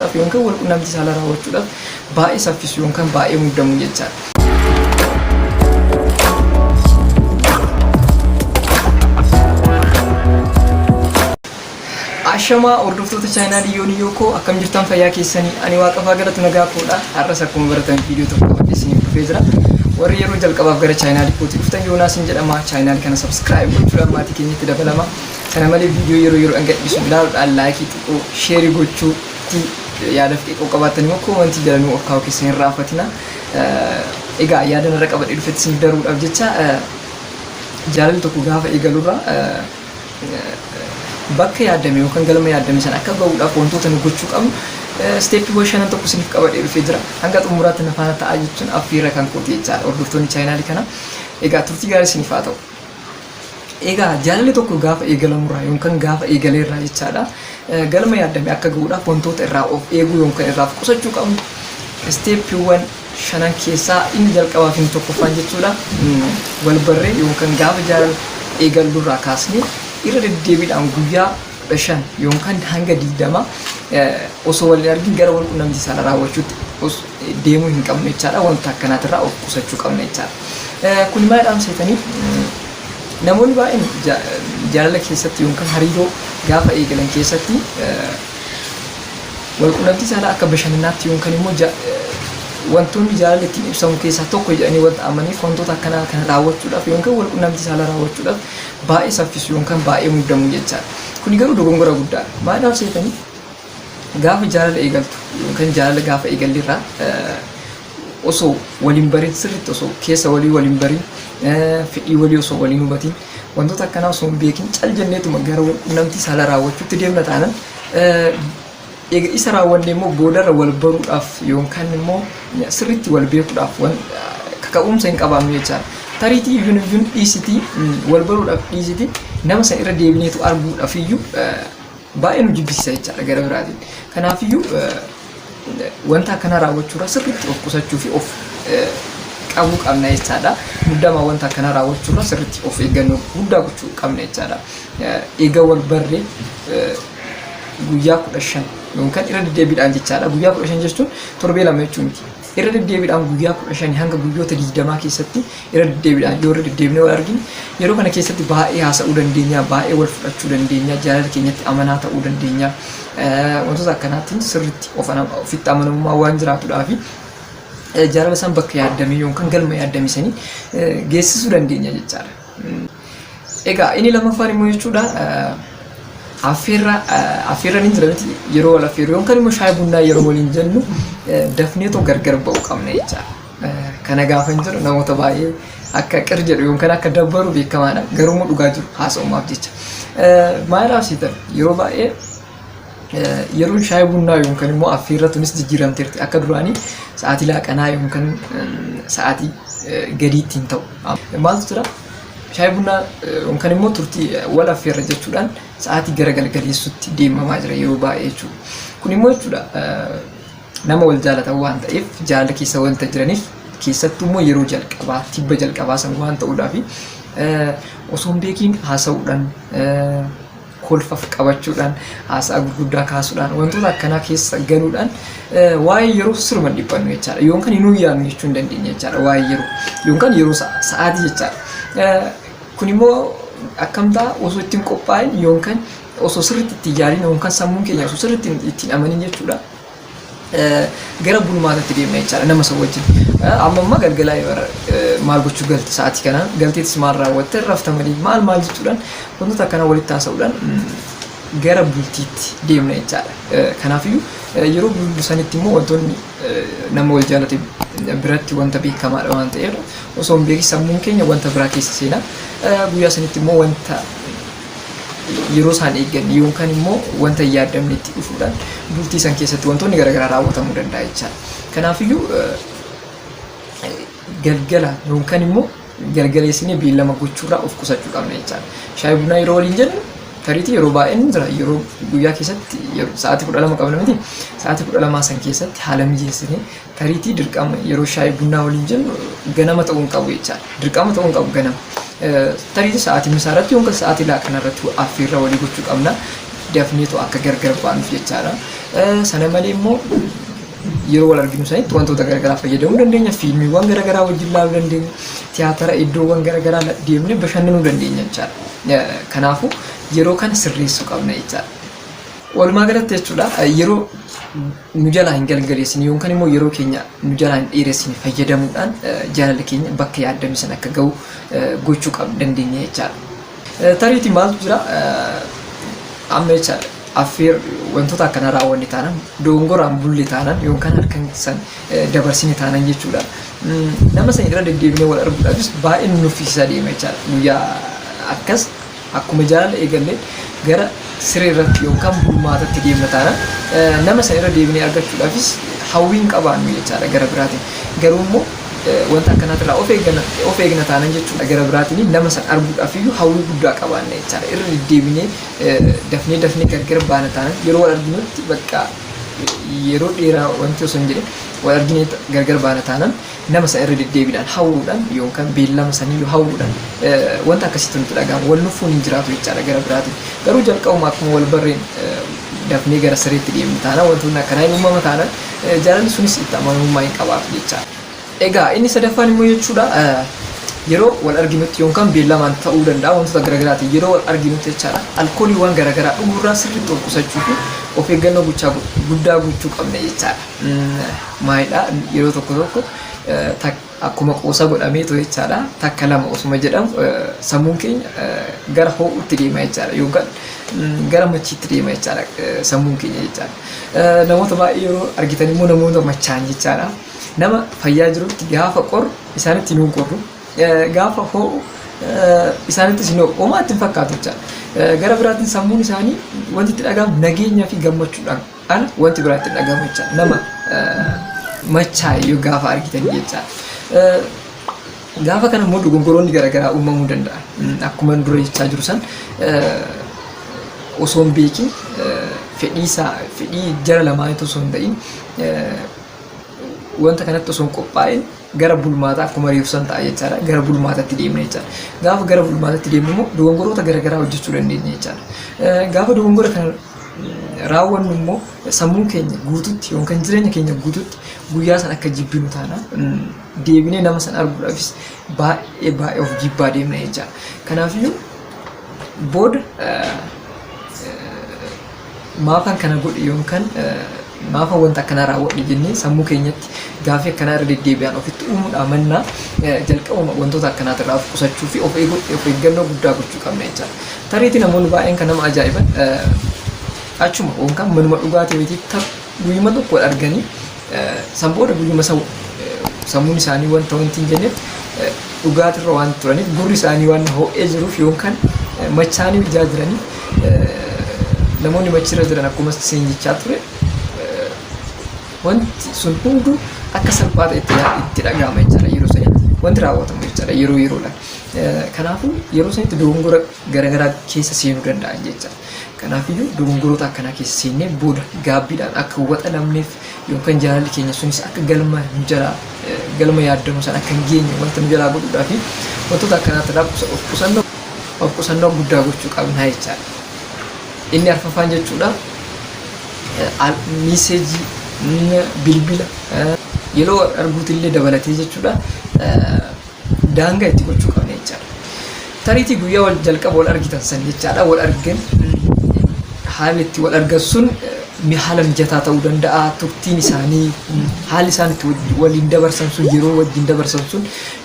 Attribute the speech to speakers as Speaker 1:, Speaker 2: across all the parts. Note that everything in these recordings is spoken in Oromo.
Speaker 1: yookan wal qunnamtii saalaa raawwachuudhaaf baay'ee saffisu yookan baay'ee muddamu jechaadha. Ashamaa hordoftoota chaayinaa Diyyoo Diyyoo koo akkam jirtan fayyaa keessanii ani waaqafaa galatu nagaa koodha har'as akkuma baratan viidiyoo tokko qabadhee isiniif dhufee jira warri yeroo jalqabaaf gara chaayinaa Dikkootti dhuftan yoonaas hin jedhama chaayinaa kana sabskiraayib gochuudhaan maatii keenyatti dabalama Sana malee viidiyoo yeroo yeroodhaan gadhiisu ilaaluudhaan laayikii xiqqoo sheerii gochuutti yaada fi xiqqoo qabaattan immoo koomantii jala nuu ol kaa'uu keessan hin raaffatina. Eh, Egaa yaada narra qabadhee dhufetti isiniif daruudhaaf jecha eh, jaalalli tokko gaafa eegalurraa eh, bakka yaadame yookaan galma yaadame sana akka ba'uudhaaf wantoota nu gochuu qabnu eh, steeppiiwwan shanan tokko isiniif qabadhee dhufee jira. Hanga xumuraatti na faana ta'aa jechuun affeerra kan kooti jechaadha hordoftoonni chaayinaalii kana. Egaa turtii gaarii isiniif haa ta'u. Egaa jaalalli tokko gaafa eegalamu irraa yookan gaafa eegalee irraa jechaadha galma yaaddame akka ga'uudhaaf wantoota irraa of eeguu yookan irraa of qusachuu qabnu isteeppiiwwan shanan keessaa inni jalqabaa fi inni tokkoffaan jechuudha wal barree yookan gaafa jaalala eegallu irraa kaasnee irra deddeebiidhaan guyyaa 15 yookaan hanga 20 osoo wal hin argin gara wal qunnamtii saala raawwachuutti deemuu hin qabnu jechaadha. Wanta akkanaatirraa of qusachuu qabna jechaadha. Kun maal dhaamseetanii namoonni baay'een jaalala keessatti yookaan hariiroo gaafa eegalan keessatti wal qunnamtii saalaa akka bashannanaatti yookaan immoo wantoonni jaalala ittiin ibsamu keessaa tokko jedhanii wanta amaniif wantoota akkanaa kana raawwachuudhaaf yookaan wal qunnamtii saalaa raawwachuudhaaf baay'ee saffisu yookaan baay'ee muddamu jechaadha. Kuni garuu dogongora guddaadha. Maaliif seetanii gaafa jaalala eegaltu yookaan jaalala gaafa eegallerraa osoo waliin barin sirriitti osoo keessa walii waliin barin fedhii walii osoo waliin hubatiin wantoota akkanaa osoo hin beekin cal jenneetuma gara namtii saala raawwachuutti deemna taanan Eega isa raawwanne immoo boodarra wal baruudhaaf yookaan immoo sirriitti wal beekuudhaaf wan kaka'umsa hin qabaannu jechaadha. Tariitii iyyuu iyyuu dhiisiti wal baruudhaaf dhiisiti nama san irra deebineetu arguudhaaf iyyuu baay'ee nu jibbisiisa jechaadha gara biraatiin. Kanaaf iyyuu wanta akkanaa raawwachuurraa sirriitti of qusachuu fi of qabuu qabna jechaadha. Muddamaa wanta akkanaa raawwachuurraa sirriitti of eeggannoo guddaa gochuu qabna jechaadha. Eega wal barree guyyaa kudha shan yookaan irra deddeebiidhaan jechaadha. Guyyaa kudha shan jechuun torbee lama jechuu miti. Irra deddeebiidhaan guyyaa kudha shanii hanga guyyoota digdamaa keessatti irra deddeebiidhaan yoo irra deddeebinee wal argine yeroo kana keessatti baay'ee haasa'uu dandeenya, baay'ee wal fudhachuu dandeenya, jaalala keenyatti amanaa ta'uu dandeenya. Eh, Wantoota akkanaatiin sirriitti of ana- ofitti amanamummaa waan jiraatudhaa fi eh, jaalala isaan bakka yaaddamee yookaan galma yaaddame sanii eh, geessisuu dandeenya jechaadha. Egaa inni lammaffaan immoo jechuudha affeerra affeerra ni jira miti yeroo wal affeerru yookaan immoo shaayii bunnaa yeroo waliin jennu dafnee too gargar ba'uu qabna jecha. Kana gaafan jedhu namoota baay'ee akka qir jedhu yookaan akka dabbaru beekamaadha garuu immoo dhugaa jiru haasa'umaaf jecha. Maal haasitan yeroo baay'ee Yeroon shaayii bunnaa yookaan immoo affeerra tunis jijjiiramteerti. Akka duraanii sa'aatii laaqanaa yookaan sa'aatii gadiitti hin ta'u. Maaltu jira? Shaayii bunnaa yookaan immoo turtii wal affeerra jechuudhaan sa'aatii gara galgaleessutti deemamaa jira yeroo baay'ee jechuudha. Kun immoo jechuudha nama wal jaalatan waan ta'eef jaalala keessa wanta jiraniif keessattuu immoo yeroo jalqabaa tibba jalqabaa san waan ta'uudhaaf osoo hin beekiin haasa'uudhaan kolfa qabachuudhaan haasaa gurguddaa kaasuudhaan wantoota akkanaa keessa galuudhaan waa'ee yeroo siruma dhiphannu jechaadha. Yoon kan hin yaadnu jechuu hin dandeenye jechaadha waa'ee yeroo. Yoon kan yeroo sa'aatii jechaadha. Kun immoo akkamtaa osoo ittiin qophaa'in yoon kan osoo sirriitti itti yaadin yoon kan sammuun keenya osoo sirriitti ittiin amanin jechuudha. gara bulmaatatti deemna jechaadha nama san wajjin. Amma amma galgalaa bara maal gochuu galte sa'aatii kana galteetis maal raawwatte rafta malee maal maal jechuudhaan wantoota akkanaa walitti haasa'uudhaan gara bultiitti deemna jechaadha. Kanaafiyyuu yeroo bullu sanitti immoo wantoonni nama wal jaalate biratti wanta beekamaadha waan ta'eef osoo hin beekin sammuun keenya wanta biraa keessa seena. Guyyaa sanitti immoo wanta yeroo isaan eegganne yookaan immoo wanta hin yaaddamnetti dhufuudhaan bultii san keessatti wantoonni garaagaraa raawwatamuu danda'a jechaadha. Kanaafiyyuu galgala yookaan immoo galgaleessinee beellama gochuurraa of qusachuu qabna jechaadha. Shaayii bunaa yeroo waliin jennu tariitii yeroo baay'een jira yeroo guyyaa keessatti sa'aatii kudha lama qabna miti sa'aatii kudha lamaa san keessatti haala mijeessinee Tariitii dirqama yeroo shaayii bunnaa waliin jennu ganama ta'uu hin qabu jechaadha. Dirqama ta'uu hin qabu ganama. Tariitii sa'aatii misaa irratti yookaan sa'aatii laaqana irratti affeerraa walii gochuu qabna. Dafneetu akka gargar baanuuf jechaadha. Sana malee immoo yeroo wal arginu sanitti wantoota garaagaraa fayyadamuu dandeenya. Fiilmiiwwan garaagaraa wajjin ilaaluu dandeenya. Tiyaatara iddoowwan garaagaraa deemnee bashannanuu dandeenya jechaadha. Kanaafuu yeroo kana sirreessuu qabna jechaadha. Walumaa galatti jechuudha yeroo nu jalaa hin galgaleessine yookaan immoo yeroo keenya nu jalaa hin dheeressine fayyadamuudhaan jaalalli keenya bakka yaaddame sana akka ga'u gochuu qabna dandeenya jechaadha. Tariitii maaltu jira amma jechaadha affeer wantoota akkanaa raawwanne taanan doongoraan bulle taanan yookaan halkan san dabarsine taanan jechuudha. Nama sana irra deddeebinee wal arguudhaafis baay'ee nu nuffisiisaa deema jechaadha guyyaa akkas Akkuma jaalalli eegalle gara siree irratti yookaan bulmaatatti deemna taana. Eh, Nama san irra deebinee argachuudhaafis hawwiin qabaannu jechaadha gara biraatiin. Garuu immoo eh, wanta akkanaatirraa of eegna, of eegna taanan jechuudha gara biraatiin nama san arguudhaaf iyyuu hawwii guddaa qabaanna jechaadha. Irra deddeebinee eh, dafnee dafnee gargar baana taanan yeroo wal arginutti bakka yeroo dheeraa wanti osoo hin jedhin wal arginee gargar baana taanan Nama san irra deddeebiidhaan hawwuudhaan yookaan beellama saniyyuu hawwuudhaan wanta akkasiitu nutti dhaga'ama. Wal nuffuun hin jiraatu jechaadha gara biraatiin. Garuu jalqabuma akkuma wal barreen dafnee gara sireetti deemnu taanaan wantoonni akkanaa hin uumama taanaan jaalalli sunis itti amanamummaa hin qabaatu jechaadha. Egaa inni sadaffaan immoo jechuudha yeroo wal arginutti yookaan beellamaan ta'uu danda'a wantoota garagaraatiin yeroo wal arginutti jechaadha alkooliiwwan garagaraa dhuguurraa sirriitti of qusachuu fi of eeggannoo guddaa gochuu qabna jechaadha. Maalidha yeroo tokko tokko akkuma qoosa godhameetu jechaadha takka lama osuma jedhamu sammuun keenya gara hoo'utti deema jechaadha yookaan gara machiitti deema jechaadha sammuun keenya jechaadha. Namoota baay'ee yeroo argitan immoo namoota machaa'an jechaadha. Nama fayyaa jirutti gaafa qoru isaanitti hin qorru gaafa hoo'u isaanittis hin hoo'u homaatti hin fakkaatu jechaadha. Gara biraatiin sammuun isaanii wanti itti dhaga'amu nageenyaa fi gammachuudhaan An wanti biraa itti dhaga'amu jecha nama machaa'e yoo gaafa argitan jecha gaafa kana immoo dogoggoroonni garaagaraa uumamuu danda'a. Akkuma dura jechaa jiru san osoo hin beekin fedhii isaa fedhii jara lamaaniitu osoo hin ta'in wanta kanatti osoo hin qophaa'in gara bulmaataa akkuma reefu san ta'a jechaadha. Gara bulmaatatti deemna jechaadha. Gaafa gara bulmaatatti deemnu immoo dogongoroota garaagaraa hojjechuu dandeenya jechaadha. Gaafa dogongora kana raawwannu immoo sammuu keenya guututti yookaan jireenya keenya guututti guyyaa san akka jibbinu taana deebinee nama san arguudhaafis baay'ee baay'ee of jibbaa deemna jecha kanaafiyyuu booda maafan kana godhe yookaan Maafan wanta akkanaa raawwadhe jennee sammuu keenyatti gaaffii akkanaa irra deddeebi'aan ofitti uumuudhaa mannaa jalqabuma wantoota akkanaatirraa of qusachuu fi of eeguu of eeggannoo guddaa gochuu qabna jechaadha. Tariitii namoonni baay'een kan nama ajaa'iban achuma yookaan manuma dhugaatii wayitii tar guyyuma tokko wal arganii san booda guyyuma san sammuun isaanii wanta wanti hin jenneef dhugaatirra waan turaniif gurri isaanii waan ho'ee jiruuf yookaan machaanii ijaa jiraniif namoonni machirra jiran akkuma siin jechaa ture eh, wanti sun hunduu akka salphaa ta'etti yaa- itti dhaga'ama jechaadha yeroo sanitti wanti raawwatamu jechaadha yeroo yeroodha Eh, kanaafuu yeroo sanitti dogongora garaagaraa keessa seenuu danda'an jechaadha kanaafiyyuu dogongoroota akkanaa keessa seennee booda gaabbiidhaan akka waxa lamneef yookaan jaalalli keenya sunis akka galma nu jalaa galma yaaddamu sana akka hin geenye wanta nu jalaa godhuudhaa fi wantoota akkanaatti irraa qusa- of qusannoo of qusannoo guddaa gochuu qabnaa jechaadha. Inni arfaffaan jechuudha eh, al- miiseejii mm, bilbila eh, yeroo arguutillee dabalatee jechuudha eh, daangaa itti gochuu qabna jechaadha. Tariitii guyyaa wal jalqaba wal argitan san jechaadha wal argan haalli itti wal argan sun eh, haala mijataa ta'uu danda'a turtiin isaanii haalli isaan itti waj- waliin dabarsan sun yeroo wajjin dabarsan sun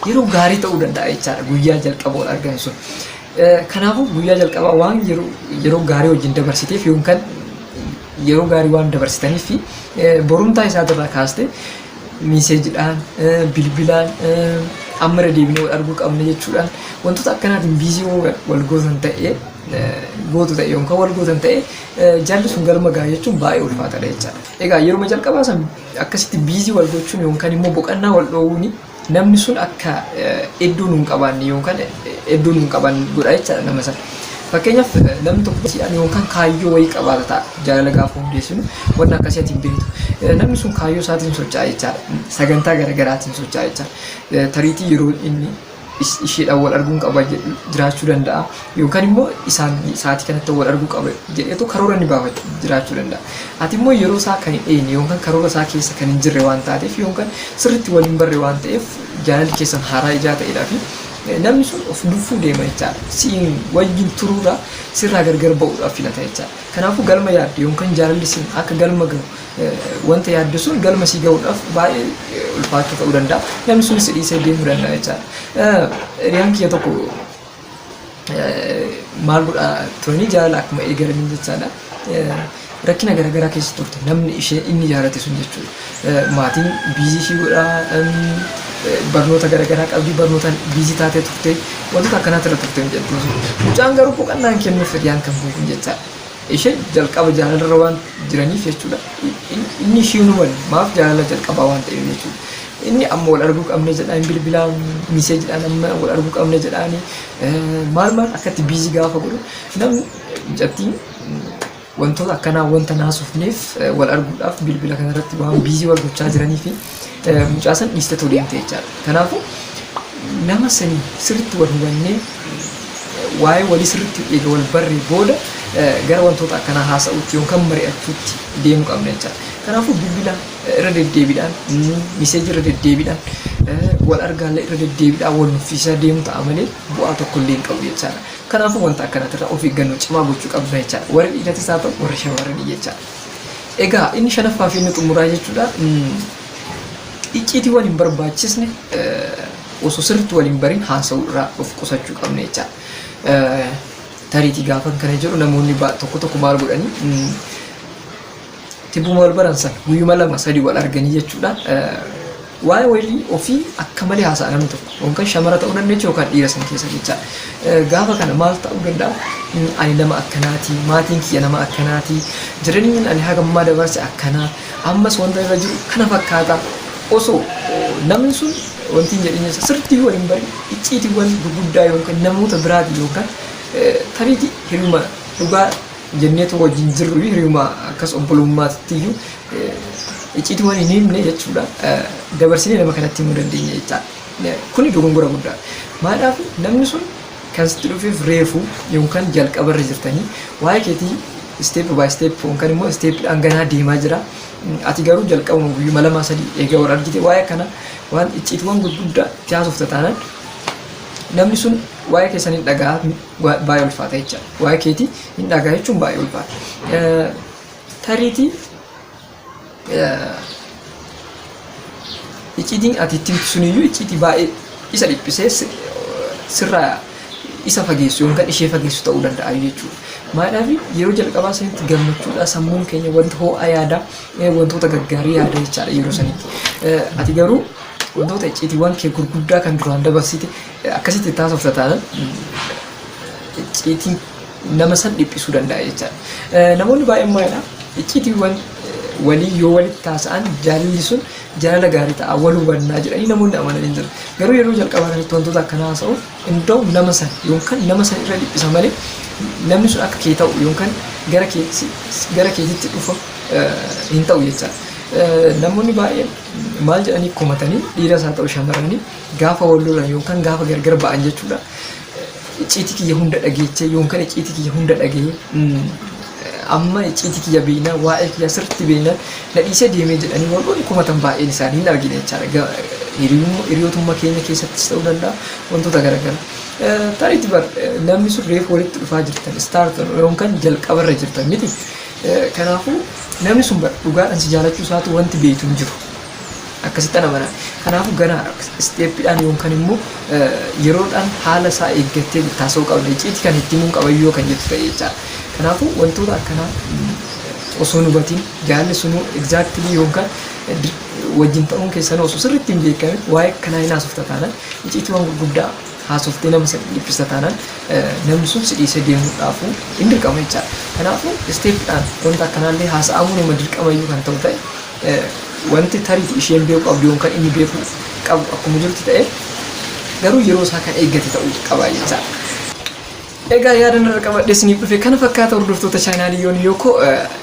Speaker 1: yeroo gaarii ta'uu danda'a jechaadha guyyaa jalqaba wal argan sun. Eh, Kanaafuu guyyaa jalqabaa waan yeroo yeroo gaarii wajjin dabarsiteef yookaan yeroo gaarii waan dabarsitaniif fi eh, borumtaa isaa irraa kaaste miiseejidhaan, bilbilaan amma irra deebinee wal arguu qabna jechuudhaan wantoota akkanaatiin biizii uumuudhaan wal gootan ta'ee gootu ta'e yookaan wal gootan ta'e jaalli sun galma ga'a jechuun baay'ee ulfaataadha jechaadha. Egaa yeruma jalqabaa san akkasitti biizii wal gochuun yookaan immoo boqannaa wal dhoowuun Namni sun akka iddoo nu hin qabaanne yookaan iddoo nu hin qaban godha jechaadha nama sana. Fakkeenyaaf namni tokko barsiidhaan yookaan kaayyoo wayii qabaata ta'a. Jaalala gaafa hundeessinu wanna akkasii ati hin beektu. Eh, Namni sun kaayyoo isaatiin socho'a jechaadha. Sagantaa garaagaraatiin socho'a jechaadha. Eh, Tariitii yeroo inni is- isheedhaan wal arguun qaba jedhu jiraachuu danda'a. Yookaan immoo isaan sa'aatii kanatti wal arguu qaba jedheetu karoora inni baafatu jiraachuu danda'a. Ati immoo yeroo isaa kan hin eegne yookaan karoora isaa keessa kan hin jirre waan taateef yookaan sirriitti wal hin barre waan ta'eef jaalalli keessan haaraa ijaa ta'edhaa fi namni sun of nuffuu deema jechaadha. Siin wajjin turuurraa sirraa gargar ba'uudhaaf filata jechaadha. Kanaafuu galma yaadde yookaan jaalalli siin akka galma gahu wanta yaadde sun galma sii gahuudhaaf baay'ee ulfaachuu ta'uu danda'a. Namni sunis si dhiisee deemuu danda'a jechaadha. Hiriyaan kiyya tokko maal godhaa turanii jaalala akkuma eegalaniin jechaadha. Rakkina garaagaraa keessa turte namni ishee inni jaalate sun jechuudha. Maatiin biizii ishii godhaa barnoota garaagaraa qabdii barnootaan biizii taatee turte wantoota akkanaatti irra turte hin jettu. Mucaan garuu boqannaan kennuuf hiriyaan kan buufu jechaadha. Isheen jalqaba jaalalarra waan jiraniif jechuudha. Inni ishii hin hubanne maaf jaalala jalqabaa waan ta'eef jechuudha. Inni amma wal arguu qabna jedhaa hin bilbilaa miseejidhaan amma wal arguu qabna jedhaani maal maal akkatti biizii gaafa godhu namni mucattiin wantoota akkanaa wanta naasofneef wal arguudhaaf bilbila kanarratti waan biizii wal gochaa jiraniifi eh, mucaa san dhiistetu deemte jechaadha. Kanaafuu nama sanii sirriitti wal hubannee eh, waa'ee walii sirriitti eega wal barree booda eh, gara wantoota akkanaa haasa'uutti yookaan mari'achuutti deemuu qabna jechaadha. Kanaafuu bilbila eh, irra deddeebiidhaan, mm, miseeji irra deddeebiidhaan, eh, wal argaallee irra deddeebiidhaan wal nuffiisaa deemuu ta'a malee bu'aa tokko illee hin qabu jechaadha. Kanaafuu wanta akkanaatirraa of eeggannoo cimaa gochuu qabna jechaadha. Warri dhiiratis haa ta'u warri shamarranii jechaadha. Egaa inni shanaffaa fi inni xumuraa jechuudha. Icciitiiwwan hin barbaachisne osoo sirriitti waliin bariin haasa'uu irraa of qusachuu qabna jecha. Tariitii gaafan kana jedhu namoonni tokko tokko maal godhanii tibbuma wal baran sana guyyuma lama sadii wal arganii jechuudha. Waa'ee wayilii ofii akka malee haasa'a namni tokko. Yookaan shamara ta'uu dandeechu yookaan dhiira san keessa jecha. Gaafa kana maal ta'uu danda'a? Ani nama akkanaati, maatiin kiyya nama akkanaati, jireenyi ani haga ammaa dabarse akkana, ammas wanta irra jiru kana fakkaata. Osoo namni sun wanti hin jedhin jecha sirriitti wal hin barin icciitiiwwan gurguddaa yookaan namoota biraatiin yookaan tariitii hiriyuma dhugaa jenneetu wajjin jirru hiriyuma akkas obbolummaatti iyyuu icciitii waan hin himne jechuudha dabarsinee nama kanatti himuu dandeenya jechaadha. Kuni dogongora guddaadha. Maadhaaf namni sun kan sitti dhufeef reefu yookaan jalqaba irra jirtanii waa'ee keetii step by step yookaan immoo step dhaan ganaa deemaa jira. Ati garuu jalqabuma guyyuma lamaa sadii eega wal argite waa'ee kana waan icciitiiwwan gurguddaa itti haasofta taanaan namni sun waa'ee keessan hin dhaga'a baay'ee ulfaata jechaadha. Waa'ee keetii hin dhaga'a jechuun baay'ee ulfaata. Tariitii icciitiin ati itti himtu suniyyuu icciitii baay'ee isa dhiphisee si- sirraa isa fageessu yookaan kan ishee fageessu ta'uu danda'a jechuudha. Maadhaafi yeroo jalqabaa sanitti gammachuudhaa sammuun keenya wanta ho'aa yaadaa eh, wantoota gaggaarii yaada jechaadha yeroo sanitti. Eh, Ati garuu wantoota icciitiiwwan kee gurguddaa kan duraan dabarsite eh, akkasitti taasofta taanaan mm, icciitiin nama san dhiphisuu danda'a jechaadha. Eh, Namoonni baay'een maalidha? Icciitiiwwan eh, walii yoo walitti haasa'an jaalalli sun jaalala gaarii ta'a wal hubannaa jedhanii namoonni amanan hin jiru. Garuu yeroo jalqabaa kanatti wantoota akkanaa haasa'uuf iddoo nama san yookaan nama san irra dhiphisa malee namni sun akka kee ta'u yookaan gara kee si- si- gara keetitti dhufa eh, hin ta'u jechaadha. Eh, Namoonni baay'een maal jedhanii komatanii dhiiras haa ta'u shamarranii gaafa wal lolan yookaan gaafa gargar ba'an jechuudha. icciitii kiyya hunda dhageettee yoonkan icciitii kiyya hunda dhagee amma icciitii kiyya beeknaa waa'ee kiyya sirriitti beeknaan na dhiisee deemee jedhanii warroonni komatan baay'een isaanii hin argine jechaadha. Hiriyootummaa keenya keessattis ta'uu danda'a wantoota garaagaraa. Tariitti bar namni sun reefu walitti dhufaa jirtan istaart yoonkan jalqabarra jirtan miti. Kanaafuu namni sun bar dhugaadhaan si jaalachuu isaatu wanti beektu hin jiru. Akkasittan amana. Kanaafuu gara step dhaan yookaan immoo yeroodhaan haala isaa eeggattee itti haasa'uu qabda. Icciitii kan itti himuun qaba yoo kan jettu ta'e jechaadha. Kanaafuu wantoota akkanaa osoo hin hubatiin jaalli sunuu exactly yookaan wajjin ta'uun keessanuu osoo sirriitti hin beekamin waa'ee akkanaa hin haasofta taanaan icciitiiwwan gurguddaa haasoftee nama san dhiphista taanaan namni sun si dhiisee deemuudhaafuu hin dirqama jechaadha. Kanaafuu step dhaan wanta akkanaallee haasa'amuun nama dirqama yoo kan ta'u ta'e Wanti tariitu isheen beeku qabdu yookaan inni beeku qabu akkuma jirutti ta'e garuu yeroo isaa kan eeggate ta'uu qaba jechaadha. Egaa yaada narra qabadhee isiniif dhufe kana fakkaata hordoftoota chaanaalii yoon yooko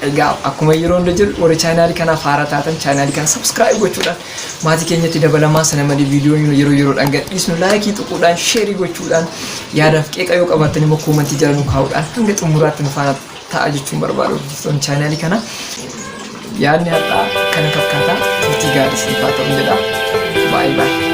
Speaker 1: egaa akkuma yeroo hunda jedhu warri chaanaalii kanaaf haara taatan chaanaalii kana sabskiraayib gochuudhaan maatii keenyatti dabalamaa sana malee viidiyoo yeroo yeroodhaan gadhiisnu laayikii tuquudhaan sheerii gochuudhaan yaadaaf qeeqa yoo qabaattan immoo koomantii jala nu kaa'uudhaan hanga xumuraatti nu faana ta'a jechuun barbaada hordoftoonni chaanaalii kana. Yaadni har'aa kana fakkaata turtii gaarii isin faa ta'u jedha. Baay'ee baay'ee.